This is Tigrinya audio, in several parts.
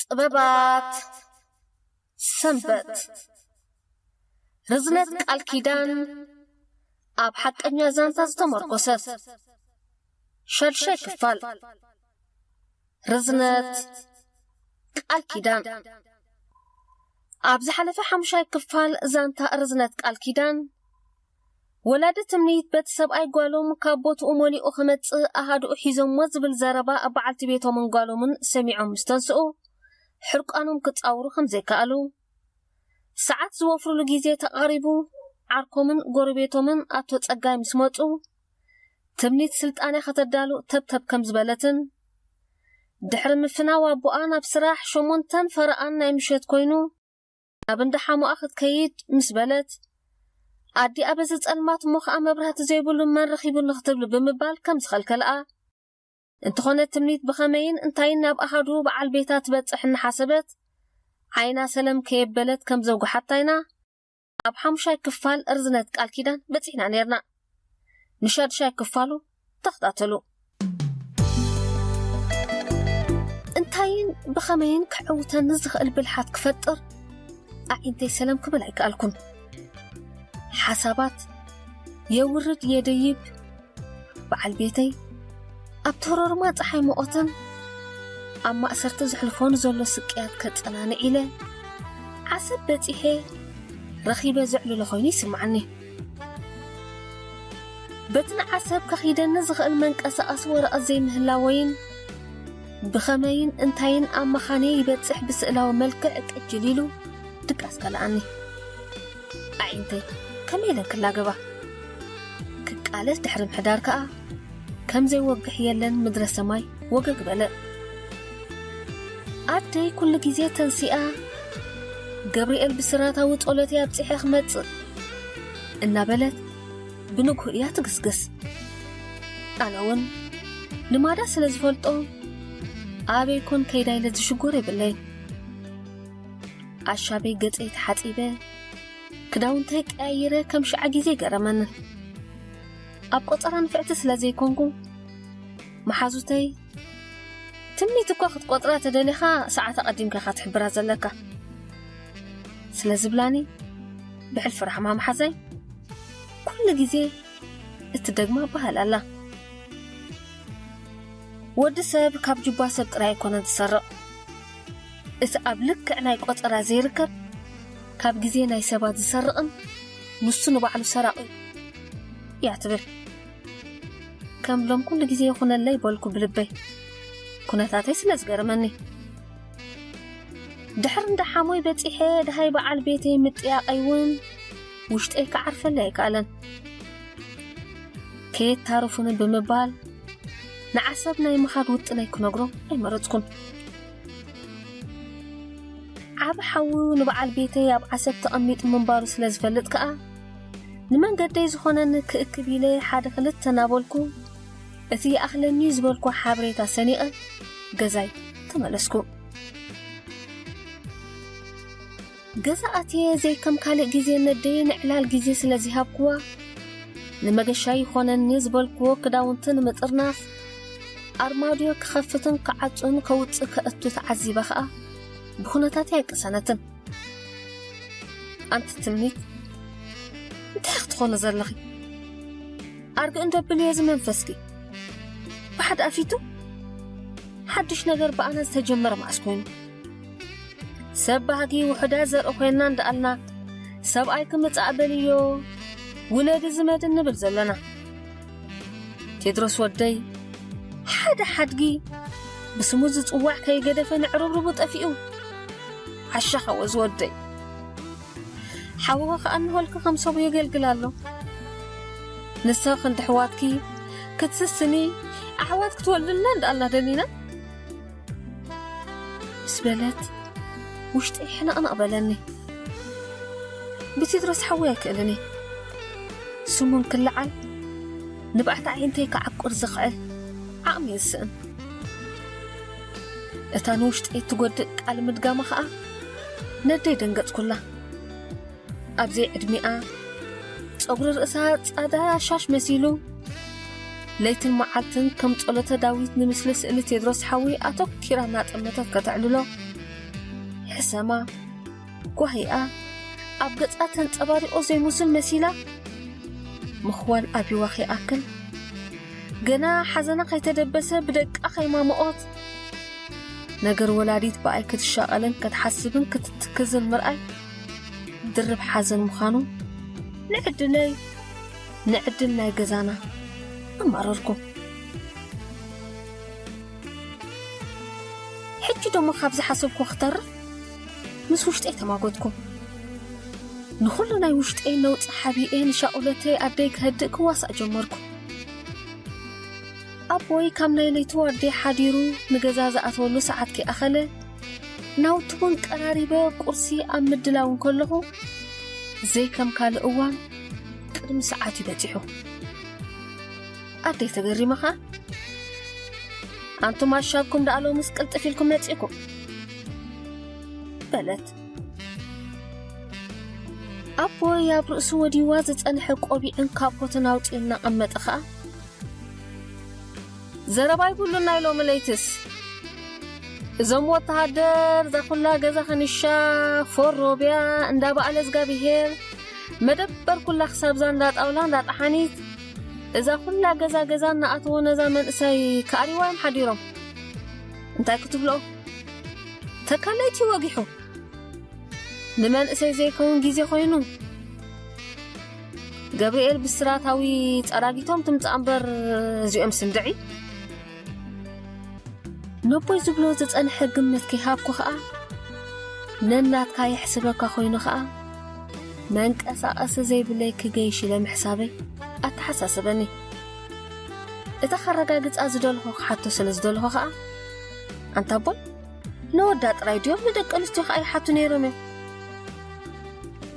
ጥበባት ሰንበት ርዝነት ቃል ኪዳን ኣብ ሓቀኛ ዛንታ ዝተመርኮሰት ሸድሻይ ክፋል ርዝነት ቃል ኪዳን ኣብ ዝሓለፈ ሓሙሻይ ክፋል ዛንታ ርዝነት ቃል ኪዳን ወላዲ ትምኒት በቲ ሰብኣይ ጓሎም ካብ ቦትኡ መሊኡ ክመጽእ ኣሃዱኡ ሒዞሞ ዝብል ዘረባ ኣብ በዓልቲ ቤቶምን ጓሎምን ሰሚዖም ምስ ተንስኡ ሕርቃኖም ክጻውሩ ከም ዘይከኣሉ ሰዓት ዝወፍርሉ ግዜ ተቓሪቡ ዓርኮምን ጎረቤቶምን ኣቶ ጸጋይ ምስ መጹ ትምኒት ስልጣነ ከተዳሉ ተብተብ ከም ዝበለትን ድሕሪ ምፍናው ኣቦኣ ናብ ስራሕ ሸሞንተን ፈረቓን ናይ ምሸት ኮይኑ ናብ እንዳ ሓሙኣ ክትከይድ ምስ በለት ኣዲኣ በዚ ጸልማት እሞ ከኣ መብራህቲ ዘይብሉ መን ረኺቡኒ ክትብል ብምባል ከም ዝኸልከልኣ እንተኾነ ትምኒት ብኸመይን እንታይን ናብ ኣሃዱ በዓል ቤታ ትበጽሕ እናሓሰበት ዓይና ሰለም ከየበለት ከም ዘጉሓታ ኢና ኣብ ሓሙሻይ ክፋል ርዝነት ቃል ኪዳን በጺሕና ኔርና። ንሻድሻይ ክፋሉ ተኽታተሉ። እንታይን ብኸመይን ክዕውተኒ ዝኽእል ብልሓት ክፈጥር ኣዒንተይ ሰለም ክብል ኣይከኣልኩን። ሓሳባት የውርድ የደይብ በዓል ቤተይ ኣብ ተሮርማ ፀሓይ መቖተን ኣብ ማእሰርቲ ዝሕልፎን ዘሎ ስቅያት ከጸናንዕ ኢለ ዓሰብ በጺሐ ረኺበ ዘዕልሎ ኮይኑ ይስምዓኒ። በቲ ንዓሰብ ከኺደኒ ዝኽእል መንቀሳቐሲ ወረቐት ዘይምህላወይን ብኸመይን እንታይን ኣብ መኻነይ ይበጽሕ ብስእላዊ መልክዕ ቅጅል ኢሉ ድቃስ ከለኣኒ ኣዒንተይ ከመይ ኢለን ክላገባ ክቃለስ ድሕሪ ምሕዳር ከኣ ከምዘይ ወግሕ የለን ምድረ ሰማይ ወገግ በለ ኣደይ ኩሉ ግዜ ተንሲኣ ገብርኤል ብስራታዊ ጸሎት እያ ኣብጺሐ ክመጽእ እናበለት ብንግሁ እያ ትግስግስ ኣነ እውን ልማዳ ስለ ዝፈልጦ ኣበይ ኮን ከይዳ ኢለ ዝሽጎር የብለይ ኣሻበይ ገጸይ ተሓጺበ ክዳውንተይ ቀያይረ ከም ሸዓ ግዜ ገረመኒ ኣብ ቆጸራ ንፍዕቲ ስለ ዘይኮንኩ መሓዙተይ ትምኒት እኳ ክትቆጽራ ተደሊኻ ሰዓት ኣቐዲምካ ኢኻ ትሕብራ ዘለካ ስለ ዝብላኒ ብሕልፊ ራሕማ መሓዛይ ኩሉ ግዜ እትደግማ በሃል ኣላ ወዲ ሰብ ካብ ጁባ ሰብ ጥራይ ኣይኮነን ዝሰርቕ እቲ ኣብ ልክዕ ናይ ቆጸራ ዘይርከብ ካብ ግዜ ናይ ሰባት ዝሰርቕን ንሱ ንባዕሉ ሰራቒ እዩ እያ ትብል። ከም ሎም ኩሉ ግዜ ይኹነለይ በልኩ ብልበይ ኩነታተይ ስለ ዝገረመኒ ድሕሪ እንዳ ሓሞይ በጺሐ ድሃይ በዓል ቤተይ ምጥያቐይ እውን ውሽጠይ ክዓርፈለ ኣይከኣለን ከየት ታርፉኒ ብምባል ንዓሰብ ናይ ምኻድ ውጥነይ ክነግሮ ኣይመረጽኩን ዓቢ ሓዉ ንበዓል ቤተይ ኣብ ዓሰብ ተቐሚጡ ምንባሩ ስለ ዝፈልጥ ከኣ ንመንገደይ ዝኾነኒ ክእክብ ኢለ ሓደ ክልተ እናበልኩ እቲ ይኣኽለኒ ዝበልኩ ሓበሬታ ሰኒቐ ገዛይ ተመለስኩ። ገዛ ኣትየ ዘይከም ካልእ ግዜ ነደይ ንዕላል ግዜ ስለ ዚሃብክዋ፣ ንመገሻ ይኾነኒ ዝበልክዎ ክዳውንቲ ንምጥርናፍ፣ ኣርማድዮ ክኸፍትን ክዓጹን ከውጽእ ከእቱ ተዓዚበ ኸኣ፣ ብኹነታተይ ኣይቀሰነትን። ኣንቲ ትምኒት፣ እንታይ ኢኺ ትኾኒ ዘለኺ? ኣርግእ እንዶ ኣብልዮ እዚ መንፈስኪ። ብሓድኣ ፊቱ፣ ሓድሽ ነገር ብኣና ዝተጀመረ መኣስ ኮይኑ? ሰብ ባህጊ ውሑዳት ዘርኢ ኮይንና እንዳኣልና ሰብኣይ ክምጻእ በልዮ ውለዲ ዝመድ እንብል ዘለና ቴድሮስ ወደይ ሓደ ሓድጊ ብስሙ ዝጽዋዕ ከይገደፈ ንዕርብርቡ ጠፊኡ ዓሻ ሓወ ዝወደይ ሓውኸ ከኣ እንሆልኪ ከም ሰቡ የገልግል ኣሎ ንሰ ክንዲ ኣሕዋትኪ ክትስስኒ ኣሕዋት ክትወልድልና እንዳኣልና ደሊና ምስ በለት ውሽጠይ ሕንቕንቕ በለኒ ብቴድሮስ ሓወይ ኣይክእልን እየ ስሙን ክለዓል ንብዓት ኣዒንተይ ክዓቁር ዝኽዕል ዓቕሚ እዩ ዝስእን እታ ንውሽጠይ እትጎድእ ቃል ምድጋማ ኸኣ ነደይ ደንገጽኩላ ኣብ ዘይ ዕድሚኣ ጸጕሪ ርእሳ ጻዳ ሻሽ መሲሉ ለይትን መዓልትን ከም ጸሎተ ዳዊት ንምስሊ ስእሊ ቴድሮስ ሓዊ ኣተኪራ እናጠመተት ከተዕልሎ ሕሰማ ጓሂኣ ኣብ ገጻ ተንጸባሪቖ ዘይሙስል መሲላ ምኽዋል ኣብዋ ከይኣክል ገና ሓዘና ከይተደበሰ ብደቃ ከይማምኦት ነገር ወላዲት ብኣይ ክትሻቐልን ክትሓስብን ክትትክዝን ምርኣይ ድርብ ሓዘን ምዃኑ ንዕድለይ ንዕድል ናይ ገዛና ኣማረርኩ ሕጂ ደሞ ካብ ዝሓሰብኩ ክተርፍ ምስ ውሽጠይ ተማጎትኩ ንኹሉ ናይ ውሽጠይ ነውፂ ሓቢኤ ንሻኡለተይ ኣደይ ክህድእ ክዋሳእ ጀመርኩ ኣቦይ ካብ ናይ ለይቲ ዋርድያ ሓዲሩ ንገዛ ዝኣተወሉ ሰዓት ከይኣኸለ ናውቲ እውን ቀራሪበ ቁርሲ ኣብ ምድላው እንከለኹ ዘይከም ካልእ እዋን ቅድሚ ሰዓት እዩ በፂሑ ኣደይ ተገሪመ ኸዓ ኣንቱም ኣሻብኩም ደኣ ሎምስ ቅልጥፍ ኢልኩም መፂእኩም በለት ኣቦይ ኣብ ርእሱ ወዲዋ ዝፀንሐ ቆቢዕን ካቦትን ኣውፂኡ እናቐመጠ ኸዓ ዘረባ ኣይብሉን ናይ ሎሚ ለይትስ እዞም ወተሃደር ዛኩላ ገዛ ከንሻ ፎር ሮብያ እንዳ በኣለ እዝጋቢሄር መደበር ኩላ ክሳብዛ እንዳ ጣውላ እንዳ ጠሓኒት እዛ ኩላ ገዛ ገዛ እናኣተዎ ነዛ መንእሰይ ክኣሪዋዮም ሓዲሮም እንታይ ክትብልኦ ተካለይቲ ወጊሑ ንመንእሰይ ዘይከውን ግዜ ኮይኑ ገብርኤል ብስራታዊ ጸራጊቶም ትምጻእ እምበር እዚኦም ስንድዒ ነቦይ ዝብሎ ዝጸንሐ ግምት ከይሃብኩ ኸኣ ነናትካ የሕስበካ ኮይኑ ኸኣ መንቀሳቐሲ ዘይብለይ ክገይሽ ኢለ ምሕሳበይ ኣተሓሳሰበኒ እታ ከረጋግጻ ዝደልኹ ክሓቶ ስለ ዝደልኹ ኸኣ ኣንታ ኣቦይ ነወዳ ጥራይ ድዮም ንደቂ ኣንስትዮ ከዓ ይሓቱ ነይሮም እዮም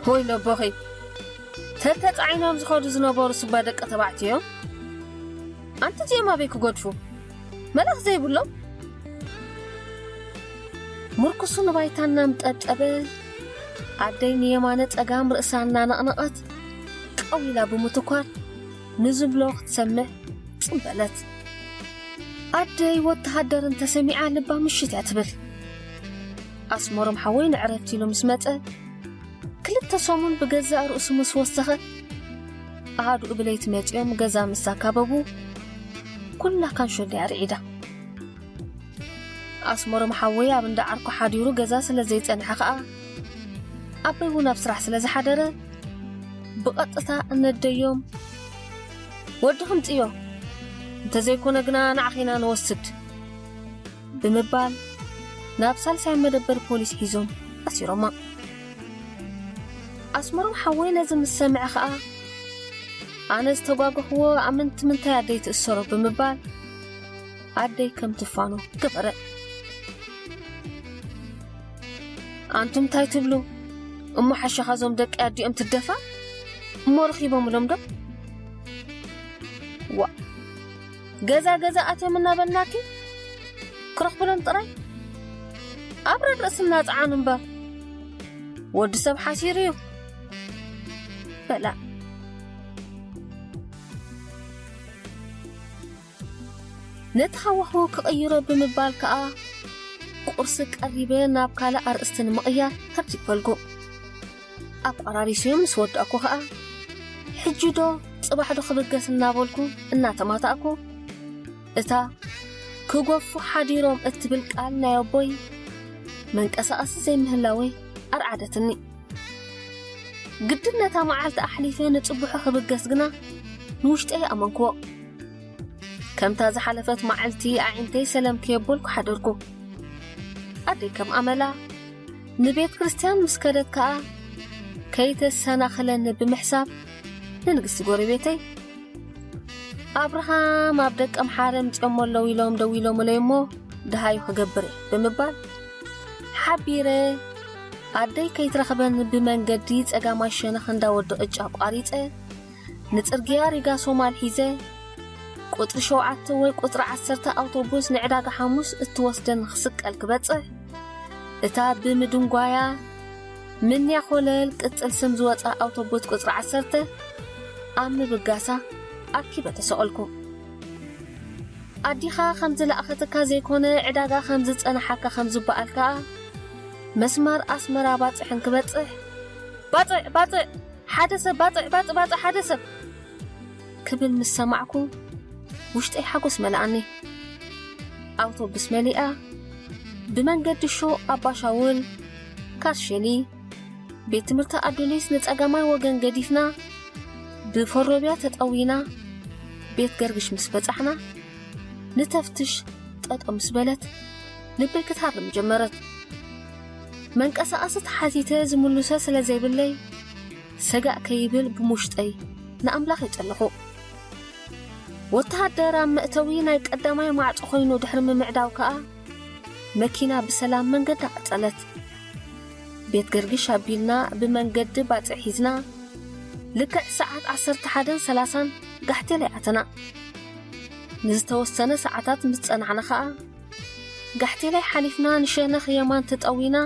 ሆይ ነቦኺ ተተፃዒኖም ዝኸዱ ዝነበሩ ስባ ደቂ ተባዕትዮ እዮም ኣንቲ እዚኦም ኣበይ ክጎድፉ መልኣኽ ዘይብሎም ምርኩሱ ንባይታ እናምጠጠበ ኣደይ ንየማነ ፀጋም ርእሳ እናነቕነቐት ቀዊላ ብምትኳር ንዝብሎ ክትሰምዕ ጽም በለት። ኣደይ ወተሃደር እንተሰሚዓ ልባ ምሽት እያ ትብል። ኣስመሮም ሓወይ ንዕረፍቲ ኢሉ ምስ መጸ ክልተ ሰሙን ብገዛእ ርእሱ ምስ ወሰኸ ኣሃዱኡ ብለይቲ መጺኦም ገዛ ምስ ኣካበቡ ኩላ ካንሾ እንድያ ርዒዳ። ኣስመሮም ሓወይ ኣብ እንዳ ዓርኩ ሓዲሩ ገዛ ስለ ዘይጸንሐ ኸኣ ኣቦይ እውን ኣብ ስራሕ ስለ ዝሓደረ ብቐጥታ እነደዮም ወዲ ኽምጽዮ እንተዘይኮነ ግና ንዓኺ ኢና ንወስድ ብምባል ናብ ሳልሳይ መደበር ፖሊስ ሒዞም ኣሲሮማ ኣስመሮም ሓወይ ነዚ ምስ ሰምዐ ኸኣ ኣነ ዝተጓገኽዎ ኣመንቲ ምንታይ ኣደይ ትእሰሮ ብምባል ኣደይ ከም ትፋኖ ክቕረእ ኣንቱም ታይ ትብሉ እሞ ሓሻኻ ዞም ደቂ ኣዲኦም ትደፋ እሞ ረኺቦምሎም ዶ ዋ ገዛ ገዛ ኣትዮም እናበልናኪ ክረኽብሎም ጥራይ ኣብ ረርእስና ጸዓኑ እምበር ወዲ ሰብ ሓሲሩ እዩ በላ ነቲ ሃዋህው ክቕይሮ ብምባል ከኣ ቁርሲ ቀሪበ ናብ ካልእ ኣርእስቲ ንምቕያር ከምዚ በልኩ። ኣቋራሪሰዮ ምስ ወዳእኩ ከኣ ሕጂዶ ጽባሕዶ ክብገስ እናበልኩ እናተማታእኩ እታ ክጎፉ ሓዲሮም እትብል ቃል ናይ ኣቦይ መንቀሳቐሲ ዘይምህላወይ ኣርዓደትኒ። ግድን ነታ መዓልቲ ኣሕሊፈ ንጽቡሑ ክብገስ ግና ንውሽጠይ ኣመንክዎ። ከምታ ዝሓለፈት መዓልቲ ኣዒንተይ ሰለም ከየበልኩ ሓደርኩ። ኣደይ ከም ኣመላ ንቤት ክርስትያን ምስ ከደት ከኣ ከይተሰናኽለኒ ብምሕሳብ ንንግስቲ ጎረቤተይ ኣብርሃም ኣብ ደቀ ምሓረ ምጽኦሞ ኣለዉ ኢሎም ደዊሎምለይ እሞ ደሃዩ ክገብር እየ ብምባል ሓቢረ ኣደይ ከይትረኽበኒ ብመንገዲ ጸጋማይ ሸነኽ እንዳ ወዲ ቅጫ ኣቋሪጸ ንጽርግያ ሪጋ ሶማል ሒዘ ቁጽሪ ሸውዓተ ወይ ቁጽሪ ዓሰርተ ኣውቶቡስ ንዕዳጋ ሓሙስ እትወስደኒ ክስቀል ክበጽሕ እታ ብምድንጓያ ምንያ ኮለል ቅጽል ስም ዝወጽኣ ኣውቶቡስ ቁጽሪ ዓሰርተ ኣብ ምብጋሳ ኣኪበ ተሰቐልኩ። ኣዲኻ ከም ዝለኣኸትካ ዘይኮነ ዕዳጋ ከም ዝጸናሓካ ከም ዝበኣል ከኣ መስመር ኣስመራ ባጽሕን ክበጽሕ ባጽዕ ባጽዕ ሓደ ሰብ ባጽዕ ባጽዕ ባጽዕ ሓደ ሰብ ክብል ምስ ሰማዕኩ ውሽጠይ ሓጎስ መለኣኒ። ኣውቶቡስ መሊኣ ብመንገዲ ሹቕ ኣባሻውል፣ ካስሸሊ፣ ቤት ትምህርቲ ኣዱሊስ ንጸጋማይ ወገን ገዲፍና ብፎሮብያ ተጠዊና ቤት ገርግሽ ምስ በጻሕና ንተፍትሽ ጠጠው ምስ በለት ልበይ ክትሃርም ጀመረት። መንቀሳቐሲ ተሓቲተ ዝምልሶ ስለ ዘይብለይ ሰጋእ ከይብል ብሙሽጠይ ንኣምላኸይ ጸለኹ። ወተሃደር ኣብ መእተዊ ናይ ቀዳማይ ማዕጾ ኮይኑ ድሕሪ ምምዕዳው ከኣ መኪና ብሰላም መንገዳ ቀጸለት። ቤት ገርግሽ ኣቢልና ብመንገዲ ባጽዕ ሒዝና ልክዕ ሰዓት ዓሰርተ ሓደን ሰላሳን ጋሕቴላይ ኣተና። ንዝተወሰነ ሰዓታት ምስ ጸናሕና ከኣ ጋሕቴላይ ሓሊፍና ንሸነኽ የማን ተጠዊና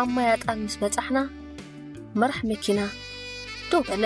ኣብ ማይ ኣጣል ምስ በጻሕና መራሕ መኪና ደው በለ